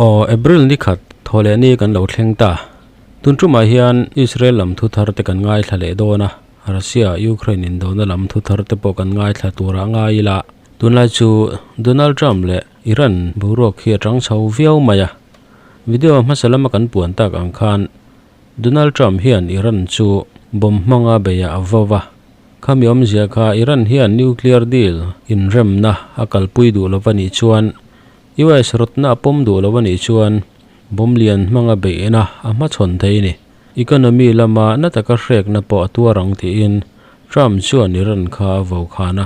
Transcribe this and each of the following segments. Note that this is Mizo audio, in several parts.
Aw April ni khat thaw leh ni kan lo thleng ta, tun chu mai hian Israel lam thu thar te kan ngaithla leh dawn a, Russia Ukraine indawhna lam thu thar te pawh kan ngaithla tur ah ngai ila, tunlai chu Donald Trump leh-- Iran boruak hi a chang chho viau mai a. Video hmasa lama kan puan tak ang khan Donald Trump hian Iran chu bomb hmanga beiah a vo va, khami awmzia kha Iran hian nuclear deal inremna a kalpui duh lo a nih chuan US rawtna a pawm duh lo a nih chuan bomb lian hmanga beihna a hmachhawn thei ni. Economy lama nataka hrekna pawh a tuar ang tiin Trump chuan Iran kha a vo khan a.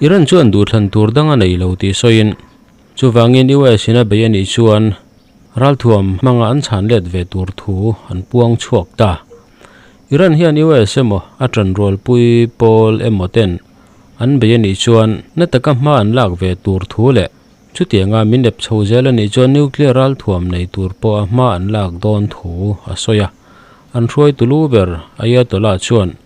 Iran chuan duhthlan tur dang a nei lo tih sawiin, chuvangin US-ina bei a nih chuan ralthuam hmanga an chhan let ve tur thu an puang chhuak ta. Iran hian US emaw a tanrualpui pawl emaw-ten an bei a nih chuan na taka hma an lak ve tur thu leh chutianga min ep chho zel a nih chuan nuclear ralthuam nei tur pawha hma an lak dawn thu a sawi a, an hruai tu lu ber Ayatollah chuan.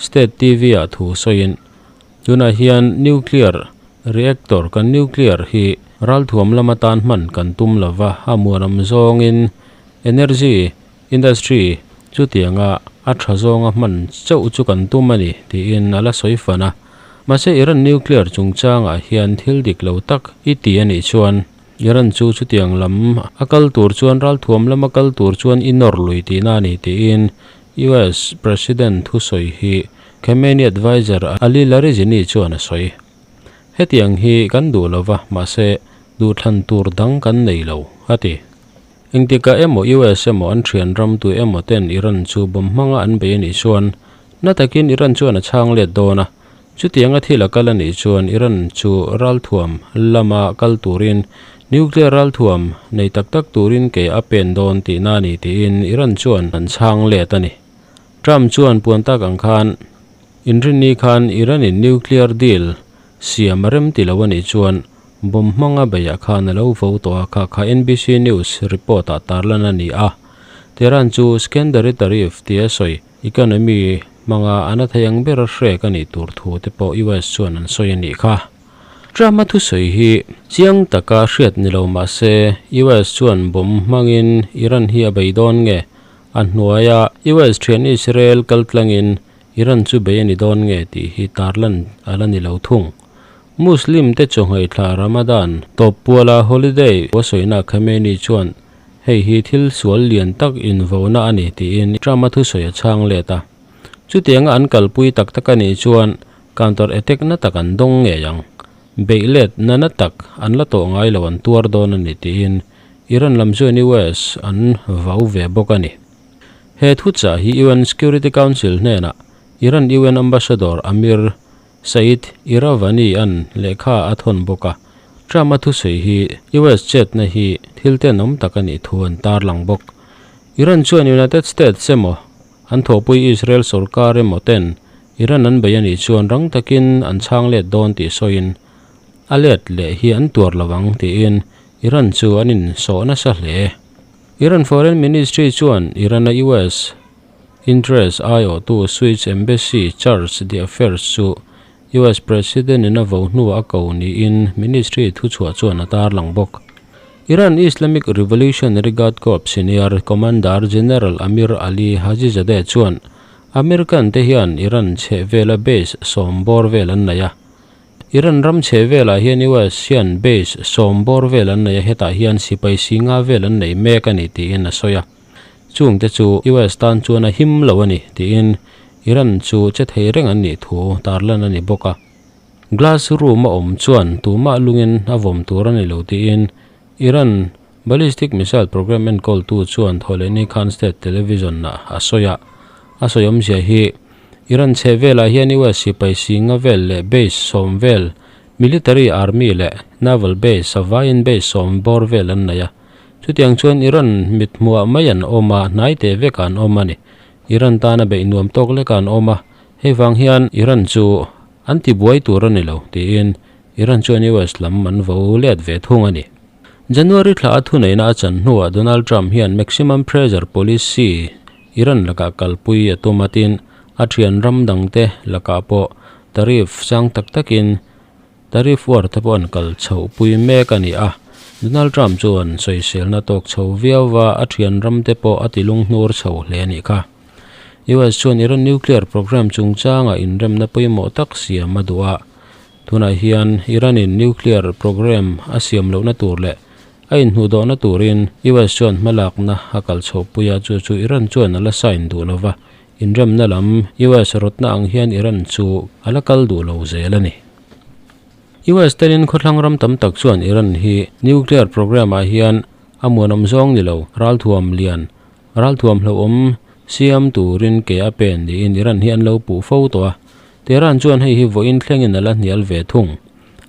State TV-ah thu sawiin, tunah hian nuclear reactor kan nuclear hi ralthuam lam atan hman kan tum lo va, a hmuaram zawngin energy industry chutianga a tha zawnga hman chauh chu kan tum a ni, tiin a la sawi fan a. Mahse Iran nuclear chungchangah hian thil dik lo tak i ti a nih chuan Iran chu chutiang lam a kal tur chuan ralthuam lama kal tur chuan i nawr lui tihna a ni, tiin US President thusawi hi Khamenei advisor Ali Larijini chuan a sawi, Hetiang hi kan duh lo va, mahse duhthlan tur dang kan nei lo, a ti. Engtikah emaw US emaw an thianramtu emaw ten Iran chu bawm hmanga an bei a nih chuan, na takin Iran chuan a chhang let dawn a, Chutianga thil a kal a nih chuan Iran chu ralthuam lama kal turin nuclear ralthuam nei tak tak turin ke a pen dawn tihna a ni tiin Iran chuan an chhang let a ni. Trump chuan puan tak ang khan inrinni khan Iran-in nuclear deal siam a rem tilo a nih chuan bomb hmanga beiah khan a lo vo tawh a kha kha NBC News report-ah tarlan a ni a. Tehran chu secondary tariff tia sawi Economy hmanga a na thei ang bera hrek a nih tur thu te pawh US chuan an sawi a nih kha. Trump-a thusawi hi chiang taka hriat ni lo mah se, US chuan bawm hmangin Iran hi a bei dawn nge? A hnuaia US thian Israel kal tlangin Iran chu bei a ni dawn nge tih hi tarlan a la ni lo thung. Muslim te chaw nghaithla Ramadan tawp puala holiday a sawinak Khamenei chuan Hei hi thil sual lian tak invona a ni, tiin Trump a thusawi a chhang let a. Chutianga an kalpui tak tak a nih chuan counter attack na tak an dawng ngei ang. Beih let nana tak an la tawh ngai lo an tuar dawn a ni, tiin Iran lam zawin US an vau ve bawk a ni. He thuchah hi UN Security Council hnenah Iran UN Ambassador Amir Saeed Iravani-a'n lehkha a thawn bawk a, Trump-a thusawi hi US chetna hi thil ten awm tak a nih thu an tarlang bawk. Iran chuan United States emaw, an thawhpui Israel sorkar emaw ten Iran an bei a nih chuan rang takin an chhang let dawn tih sawiin a let leh hi an tuar lo ang tiin Iran chu an insawh nasa hle. Iran Foreign Ministry chuan Iran-a US. Interest aiawhtu Swiss Embassy Charge the Affairs chu US President in a vo hnua a ko niin Ministry thuchhuah chuan a tar lang bawk. Iran Islamic Revolutionary Guard Corps Senior Commander General Amir Ali Hajizadeh chuan American te hian Iran chhehvela base sawm bawr vel an nei a. Iran ram chhehvelah hian US hian base sawm bawr vel an nei a hetah hian sipai si nga vel an nei mek a ni tiin a sawi a. Chung te chu US tan chuan a him lo a ni tiin Iran chu che thei reng an nih thu tar lan a ni bawk a. Glass room a awm chuan tumah lungin a vawm tur a ni lo tiin Iran ballistic missile programme enkawl tu chuan Kholeini Khan State Television-ah a sawi a. A sawi awmzia hi Iran chheh velah hian US sipai singa vel leh base sawm vel, military, army leh naval base, vaiin base sawm bawr vel an nei a, Chutiang chuan Iran mithmuah mai an awm a, hnai teh vek a an awm a ni. Iran tana beih nuam tawk leka an awm a, hei vang hian Iran chu an tibuai tur a ni lo, tiin Iran chuan US lam an vo let ve thung a ni. January thla a thuneihna a chan hnuah Donald Trump hian Maximum Pressure Policy Iran lakah kalpui a tum a, tin a thianram dangte lakah pawh tariff sang tak takin, Tariff war te pawh an kal chhoh pui mek a ni a, Donald Trump chuan sawiselna tawk chho viau va, a thianram te pawh a ti lunghnuar chho hle a nih kha. US chuan Iran nuclear programme chungchanga inremna pawimawh tak siam a duh a, tunah hian Iran-in nuclear programme a siam lohna tur leh a inhnuhdawhna turin US chuan hmalakna a kal chhoh pui a, chu chu Iran chuan a la sign duh lova, Inremna lam, US rawtna ang hian Iran chu a la kal duh lo zel a ni. US te nen khawthlang ram tam tak chuan Iran hi nuclear programme ah hian a muanawm zawng ni lo, ralthuam lian, ralthuam hlauhawm siam turin ke a pen niin Iran hi an lo puh fo tawh a. Tehran chuan hei hi vawiin thlengin a la hnial ve thung,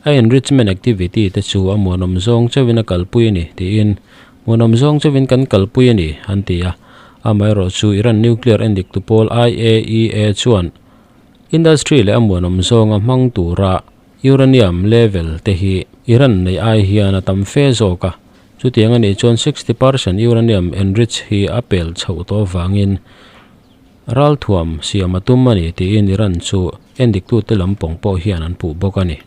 a enrichment activity te chu a muanawm zawng chauhin a kalpui a ni, tiin Hmun awm zawng chauhin kan kalpui a ni, an ti a. Amaherawh chu, Iran nuclear en dik tu pawl IAEA chuan industry leh a hmuan awm zawnga hmang tura uranium level te hi Iran neih ai hian a tam fe zawk a, chutiang a nih chuan sixty per cent uranium enrich hi a pel chhoh tawh avangin ralthuam siam a tum a ni, tiin Iran chu en diktute lam pawng pawh hian an puh bawk a ni.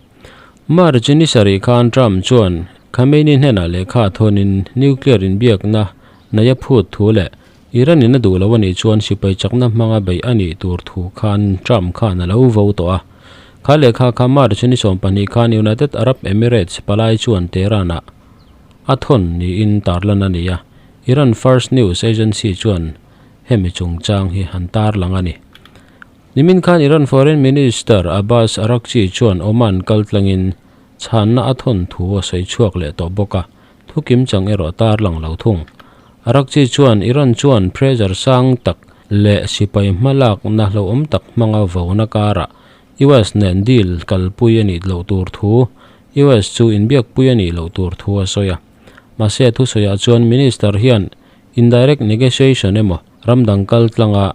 March-a ni sarih khan Trump chuan Khamenei hnenah lehkha thawnin nuclear inbiakna naia phut thu leh Iran-in a duh loh anih chuan sipai chakna hmanga beih a nih tur thu khan Trump khan a lo vo tawh a. Kha lehkha kha March-a ni sawm pahnih khan United Arab Emirates palai chuan Tehran-ah a thawn niin tarlan a ni a, Iran First News Agency chuan hemi chungchang hi han tarlang a ni. Nimin khan Iran Foreign Minister Abbas Araghchi chuan Oman kal tlangin chhanna a thawn thu a sawi chhuak leh tawh bawk a, thukim chang erawh tarlang lo thung. Araghchi chuan Iran chuan pressure sang tak leh sipai hmalakna hlauhawm tak hmanga vona karah US nen deal kalpui a nih loh tur thu, US chu inbiakpui a nih loh tur thu a sawi a. Mahse, thusawiah chuan Minister hian indirect negotiation emaw ramdang kal tlanga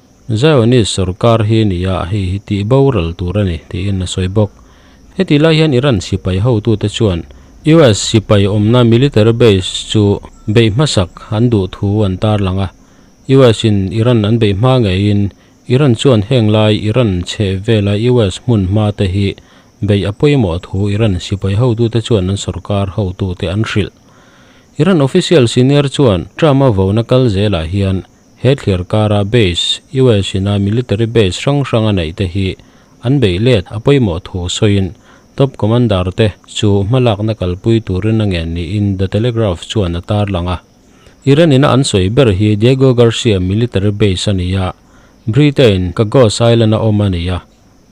Zionist sorkar hi ni a, hei hi tih boral tur a ni, tiin a sawi bawk. Heti lai hian Iran sipai hotute chuan US sipai awmna military base chu beih hmasak an duh thu an tarlang a, US in Iran an beih hma ngeiin Iran chuan heng lai Iran chheh vela US hmun hma te hi beih a pawimawh thu Iran sipai hotute chuan an sorkar hotute an hrilh. Iran official senior chuan Trump-a vawna kal zelah hian He thliar kara base, US ina military base hrang hrang a neih te hi an beih let a pawimawh thu sawiin Top Commander te chu hma lakna kalpui turin a ngen niin The Telegraph chuan a tarlang a. Iran ina an sawi ber hi Diego Garcia military base a ni a, Britain Chagos Island a awm a ni a.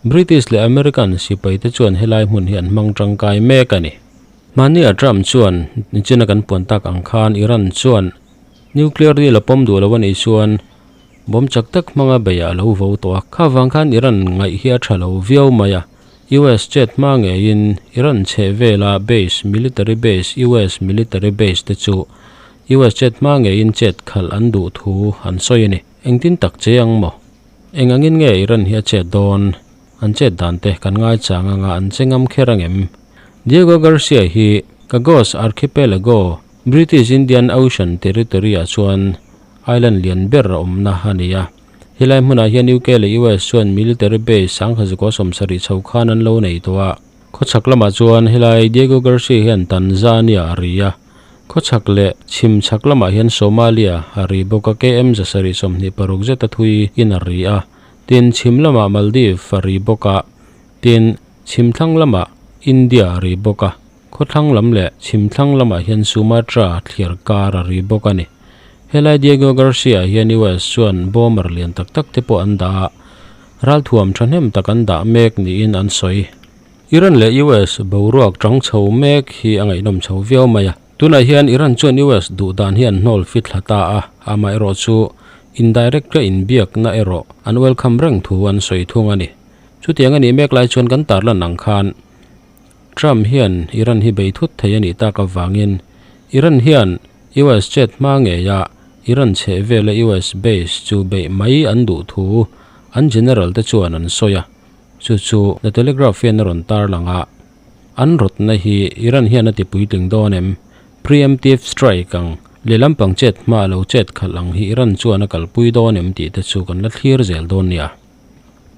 British leh American sipai te chuan helai hmun hi an hmang tangkai mek a ni. Hmani a Trump chuan Chin-a kan puan tak ang khan Iran chuan Nuclear deal a pawm duh lo a nih chuan bomb chak tak hmanga beihah a lo vo tawh a, kha vang khan Iran ngaih hi a tha lo viau mai a, US chet hma ngeiin Iran chheh vela base, military base, US military base te chu US chet hma ngeiin chet khalh an duh thu an sawi a ni. Engtin tak che ang maw? Eng angin nge Iran hi a chet dawn? An chet dan te kan ngaihchah ngang a, an che ngam kher ang em? Diego Garcia hi Chagos Archipelago British Indian Ocean Territory-ah chuan island lian ber a awmna a ni a. Helai hmunah hian UK leh US chuan military base sangha zuk awsawm sarih chho khan an lo nei tawh a. Khawchhak lamah chuan helai Diego Garcia hian Tanzania a ri a, khawchhak leh chhim chhak lamah hian Somalia a ri bawk a, KM za sarih sawmhnih paruk zeta thui in a ri a. Tin, chhim lamah Maldives a ri bawk a, tin, chhim thlang lamah India a ri bawk a. Khawthlang lam leh chhimthlang lamah hian Sumatra thliar kar a ri bawk a ni. Helai Diego Garcia-ah hian US chuan bomber lian tak tak te pawh an dah a, ralthuam thahnem tak an dah mek niin an sawi. Iran leh US boruak ṭang chho mek hi a ngaihnawm chho viau mai a. Tunah hian Iran chuan US duh dan hi an hnawl fi thla ta a, amaherawh chu indirect-a inbiakna erawh an welcome reng thu an sawi thung a ni. Chutiang a nih mek lai chuan kan tarlan ang khan Trump hian Iran hi bei thut thei a nih tak avangin Iran hian US chet hma ngeia Iran chheh vela US base chu beih mai an duh thu an general te chuan an sawi a, chu chu The Telegraph hian a rawn tar lang a. An rawtna hi Iran hian a ti puitling dawn em? Pre-emptive strike ang, lehlam pang chet hma a lo chet khalh ang hi Iran chuan a kalpui dawn em tih te chu kan la thlir zel dawn nia.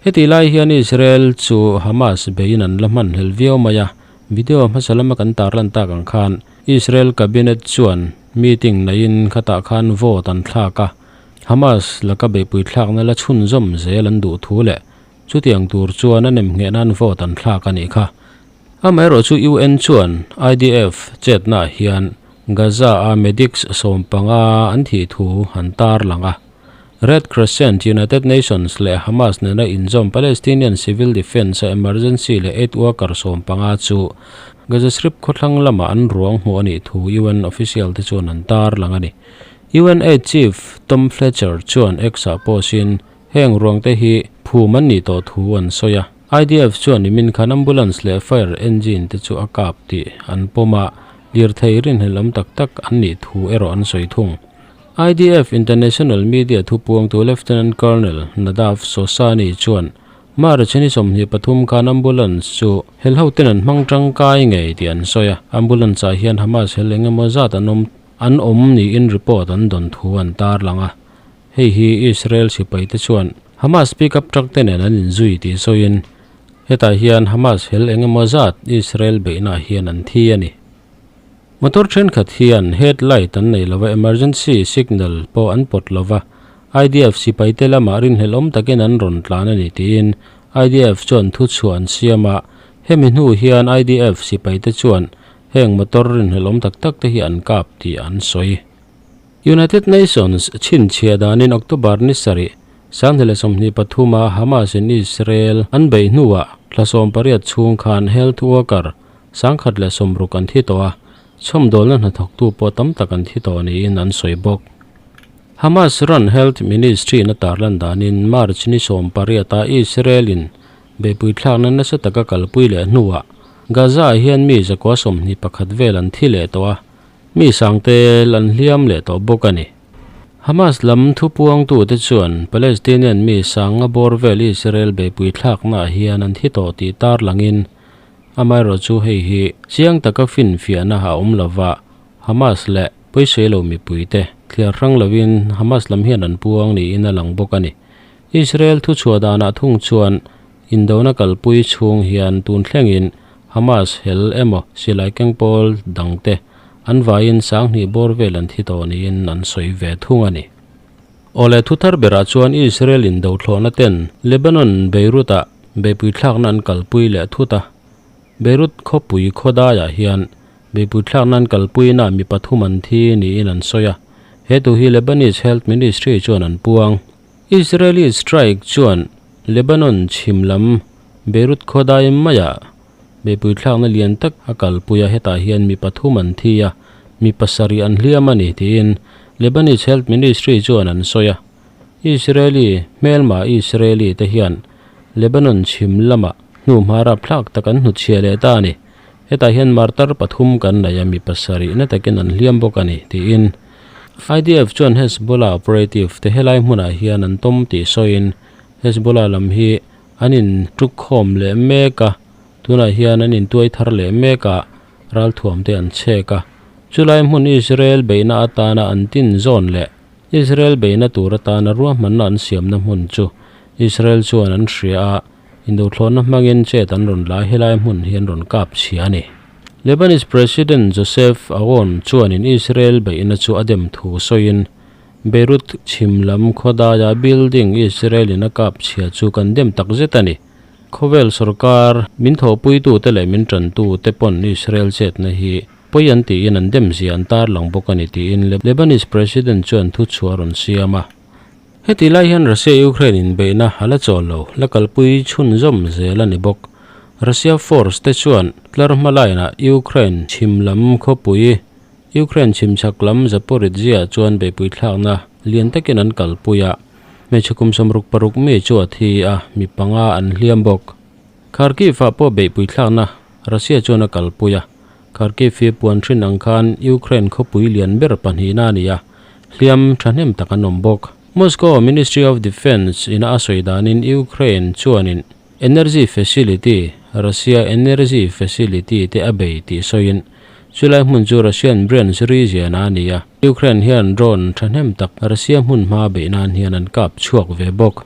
Heti lai hian Israel chu Hamas beiin an la hman hlel viau mai a. Video hmasa lama kan tar lan tak ang khan Israel Cabinet chuan meeting neiin khatah khan vote an thlak a, Hamas laka beihpui thlakna la chhunzawm zel an duh thu leh chutiang tur chuan a nem ngheh nan vote an thlak a nih kha. Amaherawh chu UN chuan IDF chetnaah hian Gaza-a medics sawm panga an thih thu an tar lang a. Red Crescent, United Nations leh Hamas nena inzawm Palestinian Civil Defence-a emergency leh aid worker sawm panga chu Gaza Strip khawthlang lamah an ruang hmuh a nih thu UN official-te chuan an tar lang a ni. UN Aid Chief Tom Fletcher chuan X-ah post in heng ruangte hi phum an nih tawh thu an sawi a. IDF chuan i min khan ambulance leh fire engine te chu a kap tih an pawm a, lirthei rinhlelhawm tak tak an nih thu erawh an sawi thung. IDF International Media thupuamtu Lieutenant Colonel Nadav Sossani chuan March a ni sawmhnih pathum khan ambulance chu helho ten an hmang tangkai ngei tih an sawi a, ambulance ah hian Hamas hel eng emaw zat an awm an awm niin report an dawn thu an tarlang a. Hei hi Israel sipai te chuan Hamas pickup truck te nen an inzui tih sawiin hetah hian Hamas hel eng emaw zat Israel beihna ah hian an thi a ni. Motor thenkhat hian head light an nei lova emergency signal pawh an pawt lova, IDF sipaite lama rinhlelhawm takin an rawn tlan a ni tiin IDF chuan thu chhuah an siam a, hemi hnu hian IDF sipaite chuan heng motor rinhlelhawm tak tak te hi an kap tih an sawi. United Nations chhinchhiah danin October ni sarih sanghnih leh sawmhnih pathuma Hamas-in Israel an beih hnuah hlasawm pariat chhung khan health worker Sangkhat leh sumruk an thi tawh a, chhawmdawlna hnathawktu pawh tam tak an thi tawh niin an sawi bawk. Hamas ran Health Ministry-na tar lan danin March ni sawm pariata Israel-in beipui thlakna nasa taka kalpui leh hnuah Gaza-ah hian mi zakua sawmhnih pakhat vel an thi leh tawh a, mi sang tel an hliam leh tawh bawk a ni. Hamas lam thupuangtute chuan Palestinian mi sanga bawr vel Israel beipui thlaknaah hian an thi tawh tih tarlangin, Amaherawh chu hei hi chiang taka finfiahna a awm lova, Hamas leh pawisawi lo mipuite thliar hrang lovin Hamas lam hian an puang niin a lang bawk a ni. Israel thuchhuah danah thung chuan indona kalpui chhung hian tun thlengin Hamas hel emaw silai keng pawl dangte an vaiin sanghnih bawr vel an thi tawh niin an sawi ve thung a ni. Awle thu thar berah chuan Israel indo thlawhnaten Lebanon Beirut-ah Beipuithlakna an kalpui leh thut a. Beirut khawpui khawdaiah hian beipuithlakna an kalpuina mi pathum an thi niin an sawi a, he tu hi Lebanese Health Ministry chuan an puang. Israeli strike chuan Lebanon chhim lam Beirut khawdai maiah beipuithlakna lian tak a kalpui a, hetah hian mi pathum an thi a, mi pasarih an hliam a ni tiin Lebanese Health Ministry chuan an sawi a. Israeli hmelma Israeli te hian Lebanon chhim lama hnu hma rap thlak tak an hnutchhia leh ta a ni. Hetah hian martar pathum kan naih a mi pasarihna takin an hliam bawk a ni, tiin IDF chuan Hezbollah operative te helai hmunah hian an tawm tih sawiin Hezbollah lam hi an in tuk khawm leh mek a, tunah hian an in tuai thar leh mek a, ralthuam te an chhek a. Chulai hmun Israel beihna atana an tinzawn leh. Israel beihna tur atana ruahmanna an siamna hmun chu Israel chuan an hria a, induhthlawhna hmangin chet an rawn la a helai hmun hi an rawn kap chhia a ni. Lebanese President Joseph Aoun chuanin Israel beihna chu a dem thu sawiin, Beirut chhim lam khawdaia building Israel-in a kap chhia chu kan dem tak zet a ni. Khawvel sawrkar min thawhpuitute leh min ṭantute pawn Israel chetna hi Pawi an tiin an demzia an tarlang bawk a ni tiin Lebanese President chuan thu chhu a rawn siam a. Heti lai hian Russia-Ukraine inbeihna a la chawl lo, la kalpui chhun zawm zel a ni bawk. Russia force te chuan tlar hmalainah Ukraine chhim lam khawpui, Ukraine chhim chhak lam Zaporizhzhia chuan beihpui thlakna lian takin an kalpui a, hmeichhe kum sawm ruk paruk mi chuat hi a mi panga an hliam bawk. Kharkiv-ah pawh beihpui thlakna Russia chuan a kalpui a, Kharkiv hi puan hrin ang khan Ukraine khawpui lian ber pahnihna a ni a, hliam thahnem tak an awm bawk. Moscow Ministry of Defence ina a sawi danin Ukraine chuanin energy facility, Russia energy facility, te a bei tih sawiin, chulai hmun chu Russian brains ri ziana a ni a, Ukraine hian drone thahnem tak Russia hmunhma beih nan hian an kap chhuak ve bawk.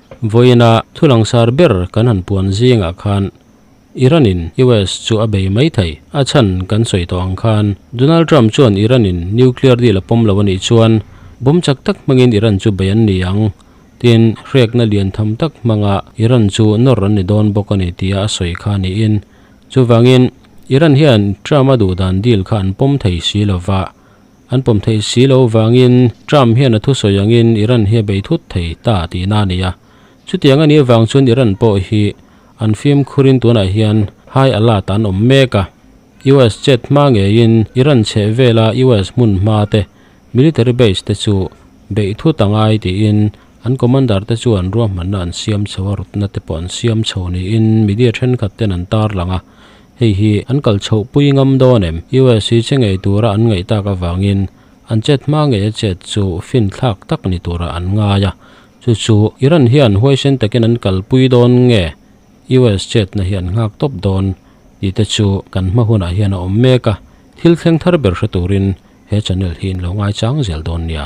Vawiina thu langsar ber kan han puan zingah khan Iran-in US chu a bei mai thei. A chhan kan sawi tawh ang khan Donald Trump chuan Iran-in nuclear deal a pawm lo a nih chuan bawm chak tak hmangin Iran chu bei an ni ang tiin hrekna lian tham tak hmanga Iran chu nawr an ni dawn bawk a ni tia a sawi kha niin chuvangin Iran hian Trump-a duhdan deal kha an pawm thei si lova An pawm theih si lo vangin Trump hian a thusawi angin Iran hi a bei thut thei ta tih na a ni a. Chutiang a nih avang chuan Iran pawh hi an fimkhurin tunah hian high alert an awm mek a. US jet hma ngeiin Iran chheh vela US hmun hma te, military base te chu beih thut a ngai tiin an commander te chuan ruahmanna an siam chho a, rutna te pawh an siam chho niin media thenkhat ten an tarlang a. Hei hi an kal chhoh pui ngam dawn em? US i che ngei tura an ngaih tak avangin an chet hma ngei a chet chu finthlak tak ni tura an ngai a. Chu chu Iran hian huaisen takin an kal pui dawn nge US chetna hi an nghak tawp dawn tih te chu kan hma hunah hian a awm mek a, thil thleng thar ber hre turin he channel hi in lo ngaichang zel dawn nia.